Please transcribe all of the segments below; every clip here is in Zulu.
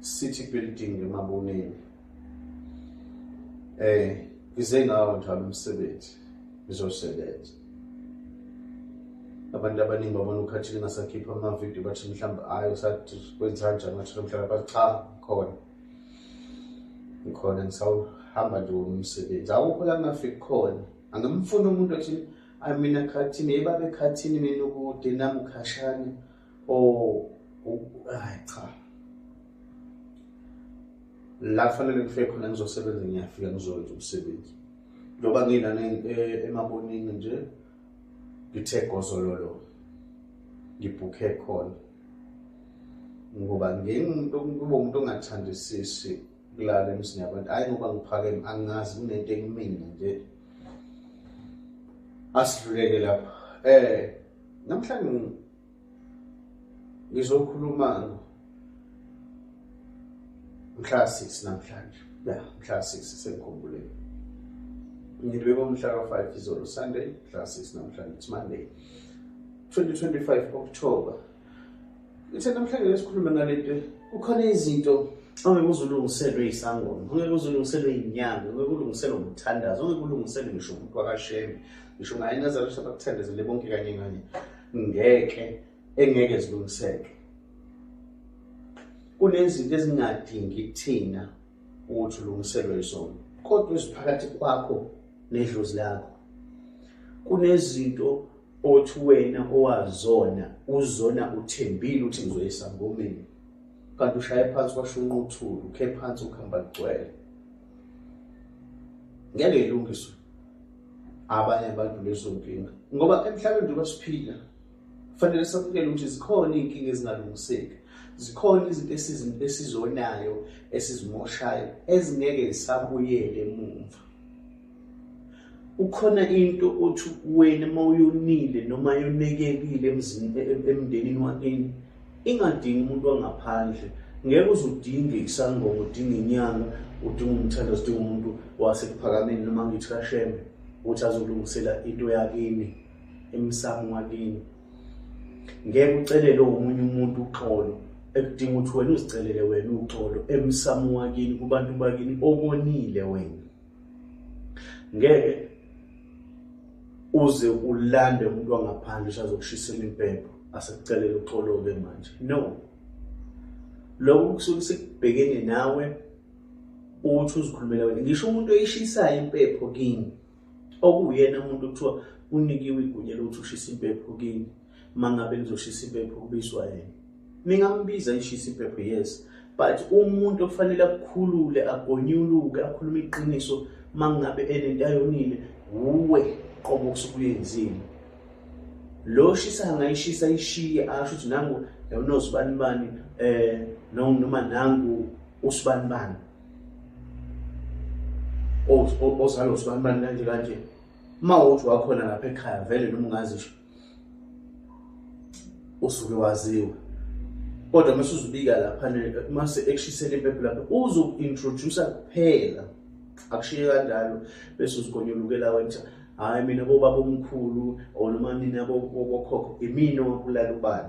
City Building eMaboneni eh ngize ngawo njalo umsebenzi ngizosebenza abantu abaningi babona ukhathile ngasakhipha amavidiyo bathi mhlawumbe hayi usathi kwenza kanjani ngathi mhlawumbe bathi cha khona ngikhona ngisawuhamba nje womsebenzi awukho la ngingafiki khona angimfuni umuntu athi ayi mina khathini yebabekhathini mina ukude nami ukhashane oh hayi cha la kufanele ngifike khona ngizosebenza ngiyafika ngizowenza umsebenzi njengoba ngilana eh, emabonini nje ngithe gozololo ngibhukhe khona ngoba ngingumuntu kuba umuntu ongathandisisi kulala emzini yabantu hhayi ngoba ngiphakeme angazi kunento ekumina nje asidluleke lapha um namhlanje ngizokhuluma mhla sisi namhlanje ya mhla sisi sengikhumbuleni ngilibeka umhla ka-five izolo sunday mhla sisi namhlanje it's monday 2025 october ithe namhlanje lesikhulume ngalento kukhona izinto ongeke uzulungiselwe isangoma ongeke uzulungiselwe inyanga ongeke ulungiselwe umthandazo ongeke ulungiselwe ngisho umuntu wakashembe ngisho naye nazalo sabakuthandezele bonke kanye kanye ngeke engeke zilungiseke kunezinto ezingadingi thina ukuthi ulungiselwe zona kodwa eziphakathi kwakho nedlozi lakho kunezinto othi wena owazona uzona uthembile ukuthi ngizoyisangomeni kanti ushaye phansi washo unquthulu ukhe phansi ukuhamba kugcwele ngeke ilungiswe abanye abantu lezo nkinga ngoba emhlabeni njengoba siphila kufanele samukele ukuthi zikhona iy'nkinga ezingalungiseki zikhona izinto esizonayo esizimoshayo ezingeke zisabuyele emumva ukhona into othi wena uma uyonile noma yonekekile emndenini wakini ingadingi umuntu wangaphandle ngeke uze udinge isangoma udinge inyanga udinga umthandazo udinga umuntu wasekuphakameni noma ngithi kashembe ukuthi azolungisela into yakini emsamo wakini ngeke ucelele omunye umuntu uxolo ekudinga ukuthi wena uzicelele wena uxolo emsamo wakini kubantu bakini obonile wena ngeke uze ulande umuntu wangaphandle usazokushisela impepho asekucelela uxoloke manje no lokho kusuke sekubhekene nawe uthi uzikhulumela wena ngisho umuntu oyishisayo impepho kini okuyena umuntu kuthiwa unikiwe igunya lokuthi ushisa impepho kini mangabe nizoshisa impepho kubizwa yena ningambiza ishisa impepho yes but umuntu okufanele akukhulule agonyuluke akhulume iqiniso mangabe enento ayonile wuwe qobo kusukuyenzile lo shisa angayishisa ishiye asho ukuthi nangu yawunozibani bani eh noma nangu usibani bani ozalo usibani bani kanje kanje uma uthi wakhona lapha ekhaya vele noma ungazisho usuke waziwa kodwa uma usuzubika lapha uma sekushisela impepho lapha uzoku-introduce kuphela akushiye kanjalo bese uzigonyolukela wenza hhayi mina bobaba omkhulu or noma nina bokhokho imina owabulala ubani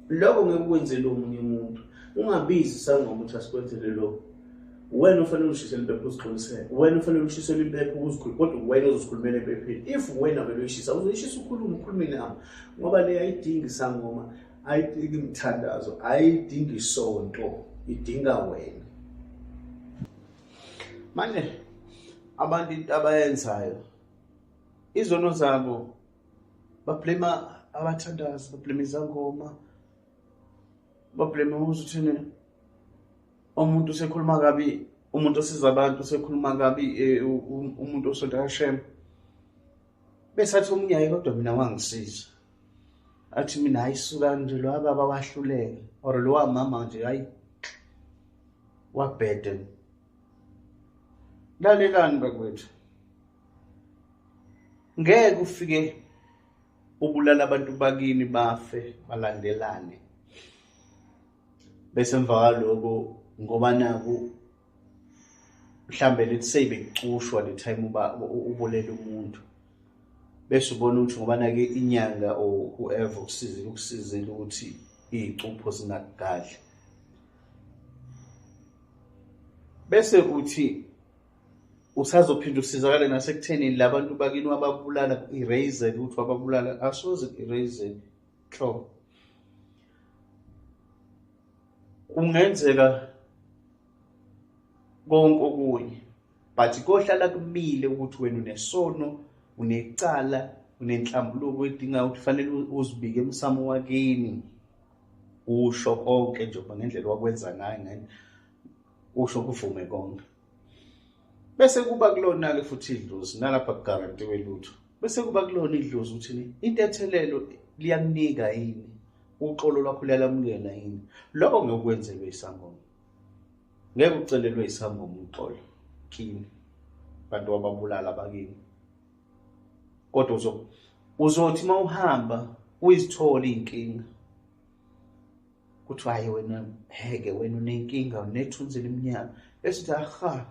lokho ngeke kwenzele omunye umuntu ungabizi isangoma ukuthi asikwenzele lokho wena ufanele ushisele impepho uzixolisele wena ufanele ushisele impepho uzikhulule kodwa wena uzozikhulumela empepheni if wena vele uyishisa uzoyishisa ukhulume ukhulume nabo ngoba le ayidingi isangoma ayidingi imithandazo ayidingi isonto idinga wena manje abantu into abayenzayo izono zabo bablema abathandazi bablema izangoma bablema uze uthini umuntu usekhuluma kabi umuntu osiza abantu usekhuluma kabi eh, umuntu osonta kashema besathi omunye aye kodwa mina wangisiza athi mina hayi suka nje lo baba wahluleke or lo mama nje hayi wabhede lalelani bakwethu ngeke ufike ubulala abantu bakini bafe balandelane bese emva kwaloko ngoba naku mhlambe let's say bekucushwa le time uba ubulela umuntu bese ubona ukuthi ngoba nake inyanga or whoever ukusizile ukusizile ukuthi iy'cupho zingakugadli bese uthi usazophinde usizakale nasekuthenini labantu bakini wababulala ku-eraser ukuthi wababulala asoze ku-eraser hlo kungenzeka konke okunye but kohlala kumile ukuthi wena unesono unecala unenhlambuluko edingayo ukuthi fanele uzibike emsamo wakini usho konke njengoba ngendlela wakwenza ngayo ngani usho kuvume konke bese kuba kulona-ke futhi idlozi nalapha kugarantiwe lutho bese kuba kulona idlozi ukuthi intethelelo liyakunika yini uxolo lwakho luyalamukela yini lokho ngeke ukwenzelwe isangoma ngeke ucelelwe isangoma uxolo kini bantu wababulala bakini kodwa uzothi uma uhamba uyizithole iy'nkinga kuthiwa hayi wena heke wena unenkinga unethunzi elimnyama esithi aha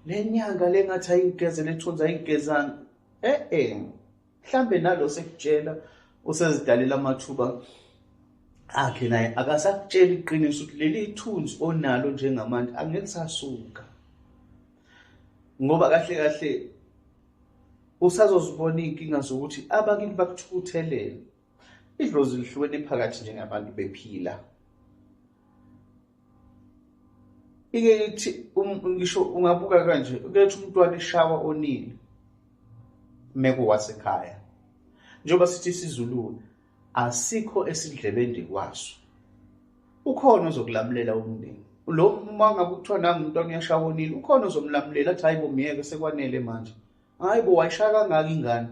le nyanga le ngathi ayigeze lethunzi ayigezanga e-e mhlawumbe nalo sekutshela usezidalela amathuba akhe naye akasakutshela iqiniso ukuthi leli thunzi onalo njengamanje angeke sasuka ngoba kahle kahle usazozibona iy'nkinga zokuthi abakini bakuthukuthelela idlozi lihluke liphakathi njengabantu bephila ike ithi um, ngisho ungabuka kanje ukethi umntwana eshawa onile meko wasekhaya njengoba sithi isizulu asikho esidlebende kwaso ukhona ozokulamulela umndeni lo uma ngabe kuthiwa nangu umntwana uyashawa onile ukhona ozomlamulela athi hayi bomyeke sekwanele manje hayi bo wayishaya kangaka ingane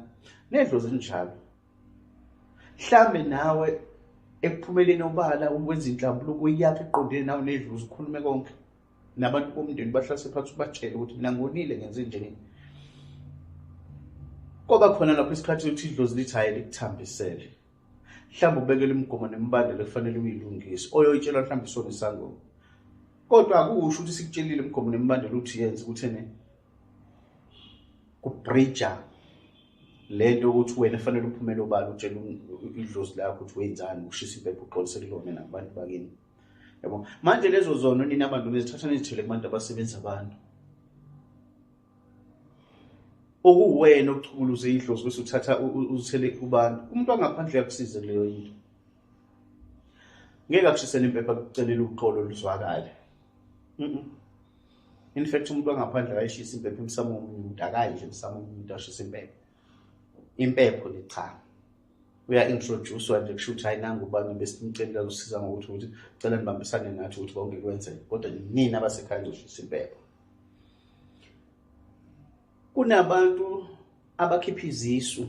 nedlo zinjalo mhlambe nawe ekuphumeleni obala ukwenza inhlambuluko iyakhe eqondene nawe nedlu uzikhulume konke nabantu bomndeni bahlase phansi ubatshele ukuthi mina ngonile ngenze njeni kwaba khona lapho isikhathi sokuthi idlozi lithi hhayi likuthambisele mhlawumbe ubekele imigomo nemibandela efanele uyilungise oyoyitshelwa mhlawumbe isona isangoma kodwa akusho ukuthi sikutshelile imigomo nemibandela ukuthi yenze ukuthi ene kubridja lento ukuthi wena fanele uphumele obala utshela idlozi lakho ukuthi wenzani ushisa impepho uxolise kulona nakubantu bakini yabo manje lezo zono nina abantu bezithatha nizithele kubantu abasebenza abantu okuwena okuchukuluze idlozi bese uthatha uzithele kubantu umuntu angaphandle uyakusiza kuleyo into ngeke akushisele impepha kucelela uxolo luzwakale mm in fact umuntu wangaphandle akayishisa impepho emsamo womunye umuntu akayi nje emsamo womunye umuntu ashisa impepho impepho le cha uya-introduce-wa nje kusho ukuthi hayi nangu ubani besimceli kazosiza ngokuthi ukuthi cela nibambisane nathi ukuthi konke kwenzeke kodwa nini abasekhaya nizoshisa impepho kunabantu abakhipha izisu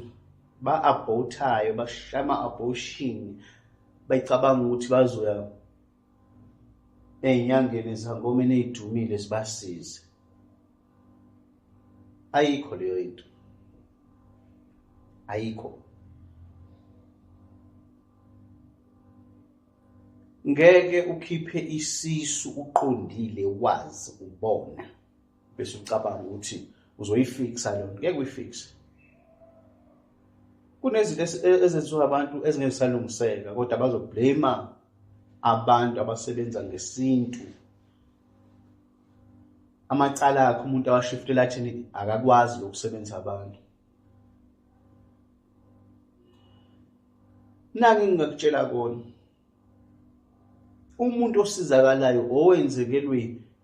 ba-abhothayo bashaya ama-abortion becabanga ukuthi bazoya ey'nyangeni ezangomeni ey'dumile zibasize ayikho leyo into ayikho ngeke ukhiphe isisu uqondile wazi ubona bese ucabanga ukuthi uzoyifixa leyo nto ngeke uyifixe kunezinto e-, ezenziwa abantu ezingezisalungiseka kodwa bazoblame abantu abasebenza ngesintu amacala akhe umuntu awashiftela athini akakwazi lokusebenzisa abantu naki ngingakutshela kona umuntu osizakalayo owenzekelwe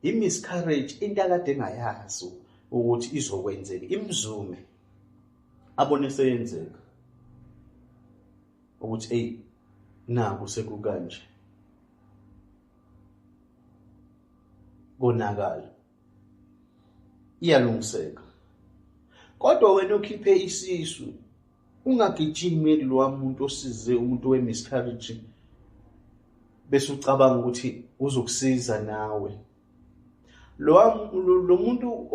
i-miscarriage into akade engayazi ukuthi izokwenzeka imzume abone seyenzeka ukuthi eyi naku sekukanje konakala iyalungiseka kodwa wena ukhiphe isisu ungagijimi kulowa muntu osize umuntu we-miscarriage bese ucabanga ukuthi uzokusiza nawe lowa lo muntu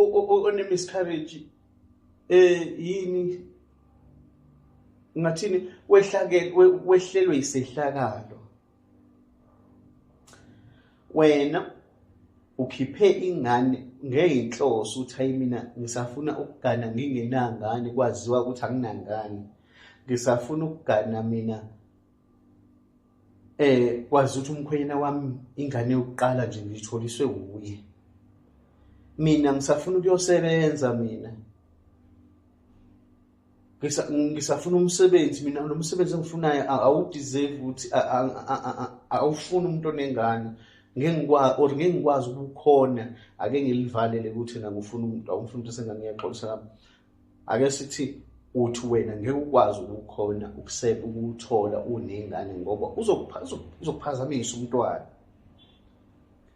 one-miscarriage um yini ngathini wehlelwe yisehlakalo wena ukhiphe ingane ngeyinhloso ukuthi hayi mina ngisafuna ukugana ngingenangane kwaziwa ukuthi anginangane ngisafuna ukugana mina eh kwazi ukuthi umkhwenyana wami ingane yokuqala nje ngitholiswe wuye mina ngisafuna ukuyosebenza mina ngisafuna umsebenzi mina lo msebenzi engifunayo awudeserve ukuthi awufuni umuntu onengane or ngeke ngikwazi ukukhona ake ngilivalele ukuthi na ngifuna umuntu awumfuna umuntu esengane ngiyaxolisa lapho ake sithi uthi wena ngeke ukwazi ukukhona ukuseba ukuthola unengane ngoba uzokuphazamisa umntwana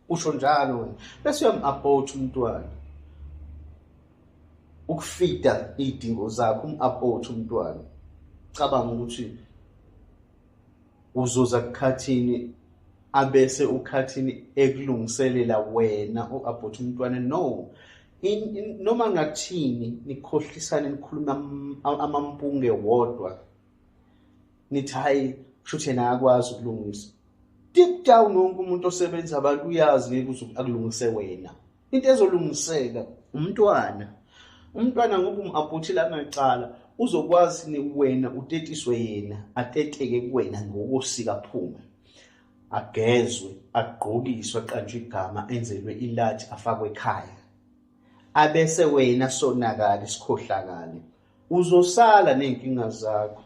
usho njalo wena bese uyam-abort umntwana ukufida iy'dingo zakho um-abort umntwana cabanga ukuthi uzoza kukhathini abese ukhathini ekulungiselela wena u-abort umntwana no noma ngathini nikhohlisane nikhuluma amampunge wodwa nithi hhayi kusho ukuthi yena akwazi ukulungisa deep down wonke umuntu osebenza abantu uyazi ngeke uze akulungise wena into ezolungiseka umntwana umntwana ngoba umu-aphothile anacala uzokwazi ni wena utetiswe yena ateteke kuwena ngokosika phume agezwe agqokiswe aqanjwe igama enzelwe ilathi afakwe ekhaya abese wena sonakala isikhohlakale uzosala ney'nkinga zakho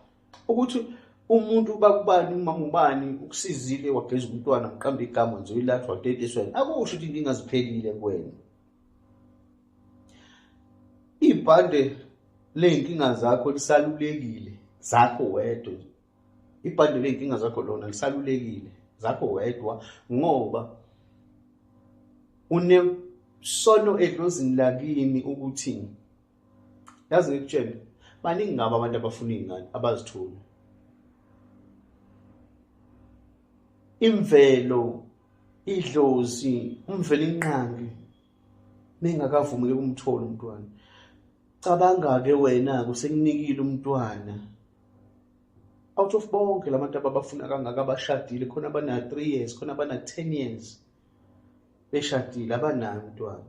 ukuthi umuntu bakubani umama ubani ukusizile wageza umntwana mqambe igama nje uyilathwa wadetisweni akusho ukuthi inkinga ziphelile kuwena ibhande ley'nkinga zakho lisalulekile zakho wedwa ibhande ley'nkinga zakho lona lisalulekile zakho wedwa ngoba unesono edlozini lakini ukuthi yazi ngikutshele baningi ngabo abantu abafuna iy'ngane abazithuli imvelo idlozi umvelo inqangi nengakavumeli kumthola umntwana cabanga-ke wena-ke usekunikile umntwana out of bonke la bantu ababafuna kangaka abashadile khona abana-three years khona abana-ten years beshadile abanayo umntwana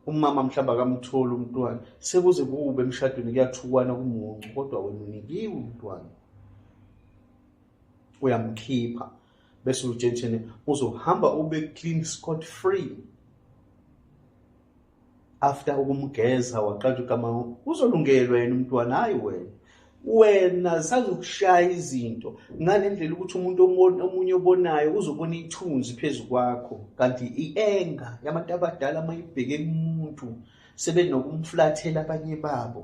umama mhlawumbe akamtholi umntwana sekuze kube emshadweni kuyathukwana kumuncu kodwa wena unikiwe umntwana uyamkhipha bese utshentshene uzohamba ube clean scot free after ukumgeza waqala ukama uzolungelwa yena umntwana hayi wena wena sazokushaya izinto ngale ndlela ukuthi umuntu omunye obonayo uzobona ithunzi phezu kwakho kanti i-enga yabantu abadala uma ibheke kumuntu sebenokumflathela abanye babo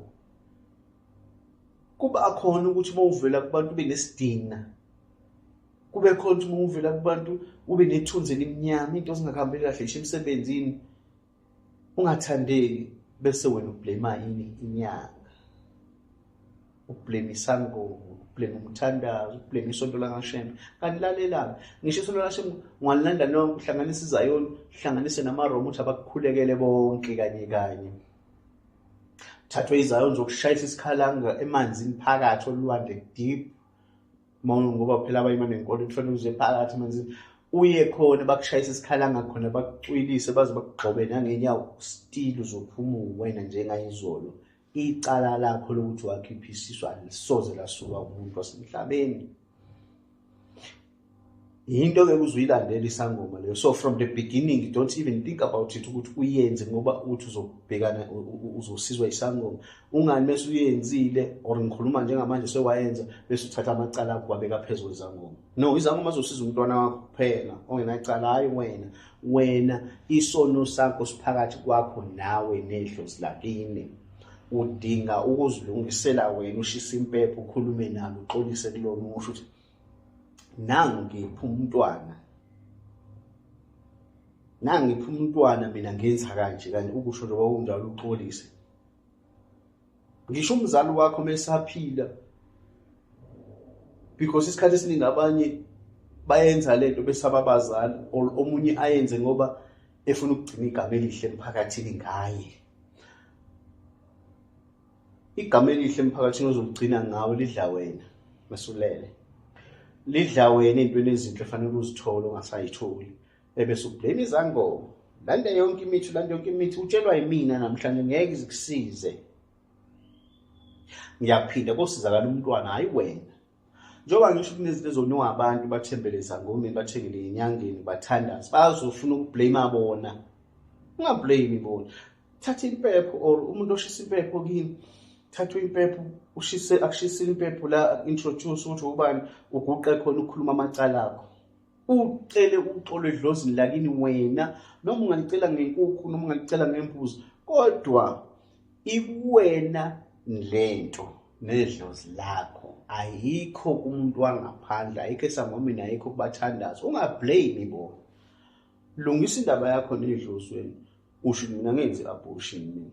kuba khona ukuthi uma uvela kubantu ube nesidina kube khona ukuthi uma uvela kubantu ube nethunzi elimnyama into zingakhambi kahle isho emsebenzini ungathandeki bese wena ublame yini inyanga ublame isangoma ublame umthandazo ublame isonto lakashembe kanti lalelani ngisho isonto lakashembe ungalilanda nonke uhlanganise izayoni uhlanganise namaroma ukuthi abakukhulekele bonke kanye kanye thathwe izayoni zokushayisa isikhalanga emanzini phakathi olwandle deep mawona ngoba phela abayima nenkolo kufanele uze phakathi manje uye khona bakushayisa isikhalanga khona bakucwilise baze bakugxobe nangenyawo still uzophuma uwena njengayizolo icala lakho lokuthi wakhipha isisu alisoze lasuka umuntu wasemhlabeni yinto ke kuzuyilandela isangoma leyo so from the beginning you don't even think about it ukuthi uyenze ngoba uthi uzobhekana uzosizwa isangoma ungani mase uyenzile or ngikhuluma njengamanje sewayenza bese uthatha amacala akho wabeka phezulu izangoma no izangoma zosiza umntwana wakho kuphela ongenacala hayi wena wena isono sakho siphakathi kwakho nawe nedlozi lakini udinga ukuzilungisela wena ushisa impepho ukhulume nalo uxolise kulona umusho ukuthi nangu ngiphi umntwana nangu ngiphi umntwana mina ngenza kanje kanti ukusho nje kwakunjalo uxolise ngisho umzali wakho mesaphila because isikhathi esiningi abanye bayenza lento besaba abazali or omunye ayenze ngoba efuna ukugcina igama elihle emphakathini ngaye Igama elihle emphakathini ozokugcina ngawo lidla wena mesulele. Lidla wena intweni ezinhle fanele uzithole ongasayitholi. Ebese ublame izangoma. Landa yonke imithi, landa yonke imithi utshelwa yimina namhlanje ngeke izikusize. Ngiyaphinda kosizakala umntwana hayi wena. njengoba ngisho ukuthi nezinto ezoniwa abantu bathembele ezangomeni bathengele enyangeni bathandazi bazofuna ukublame bona ungablame bona thatha impepho or umuntu oshisa impepho kini thatha impepho ushise akushisile impepho la introduce ukuthi ubani uguqe khona ukukhuluma amacala akho ucele uxolo edlozini lakini wena noma ungalicela ngenkukhu noma ungalicela ngembuzi kodwa ikuwena lento nedlozi lakho ayikho kumuntu wangaphandle ayikho esangomini ayikho kubathandazi ungablame bo lungisa indaba yakho nedlozi wena usho mina ngenze abortion mina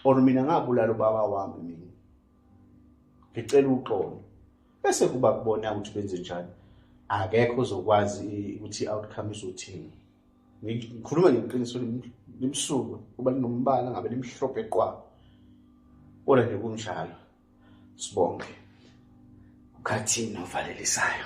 or mina ngabulala ubaba wami mina ngicela uxolo bese kuba kubona ukuthi benze njani akekho ozokwazi ukuthi i-outcome izothini ngikhuluma ngeqiniso limsulwa kuba linombala ngabe limhlophe qwa kodwa nje kunjalo sibonge ukhathini ovalelisayo